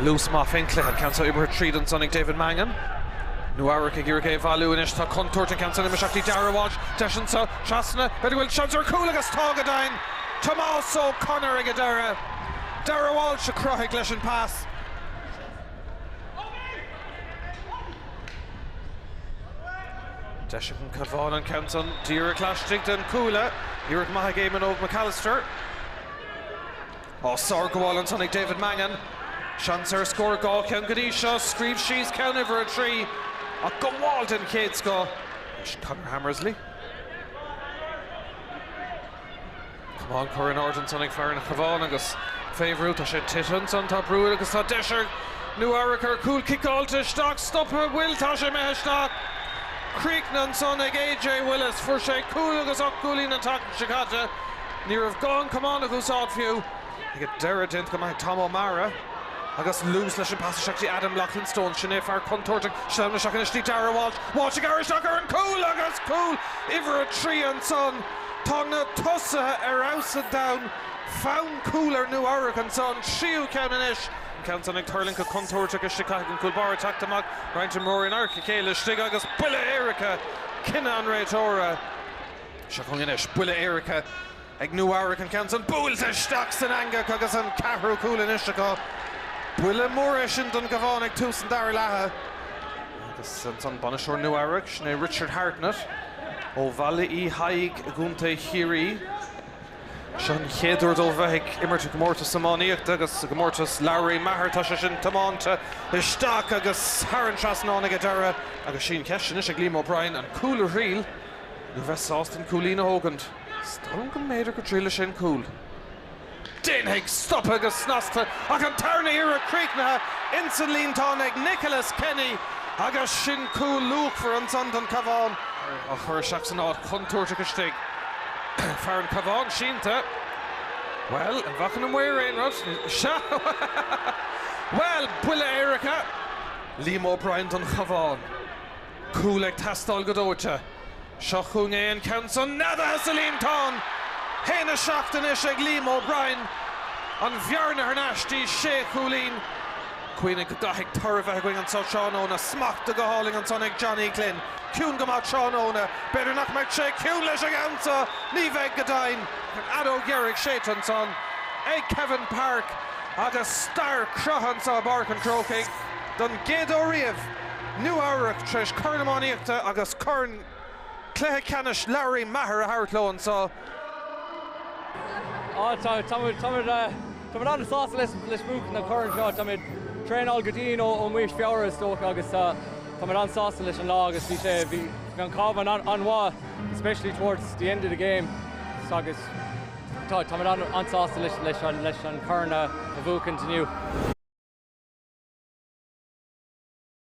Luas maith fé'n chluiche. An ceann seo oibrithe tríd ansan ag David Mangan. Nua Eabhrac ag iarraidh é a bhailiú anois. Tá contúirt an ceann san imithe isteach dtí Darragh Walsh. Deis anso trasna. B'fhéidir go bhfuil seans ar chúl agus tá go deimhin! Tomás O'Connor ag an deireadh. Darragh Walsh a chruthaigh leis an pas. Deis ag an Cabhán an ceann san díreach laistigh den chuaille. Iarracht maith ag Éamon Óg McAllister. Á sárghabháil ansan ag David Mangan. Seans ar scór dhá cheann go dtí seo. Scríobh síos ceann uimhir a trí, ach gabháil den chéad scoth leis Conor Hammersley. Camán curtha in airde ansan ag fear an Chabháin agus fé bhrú. Tá sé tite ansan. Tá brú air agus tá deis ar Nua-Eabhrac ar chúl ciceáilte isteach. Stoptha an bhfuil. Tá sé imithe isteach. Críochnaithe ansan ag A.J. Willis. Fuair sé cúl agus ocht gcúilín an tseachtain seo caite. Ní raibh gá an camán a úsáid fiú. Ag an deireadh, déanta go maith ag Tom O'Meara. Agus luas leis an bpas isteach dtí Adam Loughlin Stones, sin é fear contúirteach, sleamhnaithe isteach anois dtí Darragh Walsh. Walsh ag amharc isteach ar an cúl agus cúl uimhir a trí ansan. Tá na tosaithe ar fheabhas an domhain. Fonn cúl ar Nua Eabhrac anso, an tríú ceann anois. An ceann san ag tuirlingt go contúirteach istigh. Caithfidh an cúl báire teacht amach, roinnt imreoirí in adharca a chéile istigh agus buille éirice, cinneadh an réiteora. Seo chugainn anois buille éirice ag Nua-Eabhrac, an ceann san buailte isteach san eangach agus an ceathrú cúl anois acu. Buille mór é sin don gCabhán ag tús an dara leatha agus ansan bainisteoir Nua-Eabhrac, sin é Richard Hartnett ó Bhaile Uí Thaidhg i gContae Chiarraí. Seo an chéad uair dóibh bheith ag imirt i gcomórtas iománaíochta agus i gcomórtas Lory Meagher tá sé sin tiomáinte isteach agus thar an trasnán ag an deireadh agus sí an cheist anois ag Liam O'Brien, an cúl a thriail. nó bheith sásta an cúilín a thógaint. Is dóigh liom go mb'fhéidir go dtriailfidh sé an cúl. Déanfaidh stoptha go snasta ach an tarna hiarraidh críochnaithe ins an líontán ag Nicholas Kenny agus sin cúl luachmhar ansan don Cabhán. Á chur isteach san áit chontúirteach istigh. Fear an Chabháin sínte. Bhuel, an bhfaca na maoir aon rud? Sea! Bhuel, buille éirice! Liam O'Brien don Chabhán. Cúl ag teastáil go dóite. Seo chugainn é an ceann san, neadaithe sa líontán! Haon a seacht anois ag Liam O'Brien. An bhearna thar n-ais dtí sé chúilín. Cuimhnigh go gcaithfidh toradh bheith againn anso tráthnóna. Smachtaithe go hálainn ansan ag Johnny Glynn. Ciúin go maith tráthnóna. B'fhéidir nach mbeidh sé ciúin leis an gceann so! Ní bheidh go deimhin. An fheadóg dheiridh séidte ansan ag Kevin Parke agus stair cruthaithe anso i bPáirc an Chrócaigh don gcéad uair riamh. Nua-Eabhrac, tar éis Corn Iománaíochta agus Corn Cluiche Ceannais Larry Maher a thabhairt leo anseo. Táimid an-sásta leis, buachan na coirn seo. Táimid traenáil go dian ó mí Feabhra is dócha agus táimid an-sásta leis an lá agus bhí sé, bhí an Cabhán an-mhaith especially towards the end of the game agus táimid an-sásta leis an corn a bhuachaint inniu.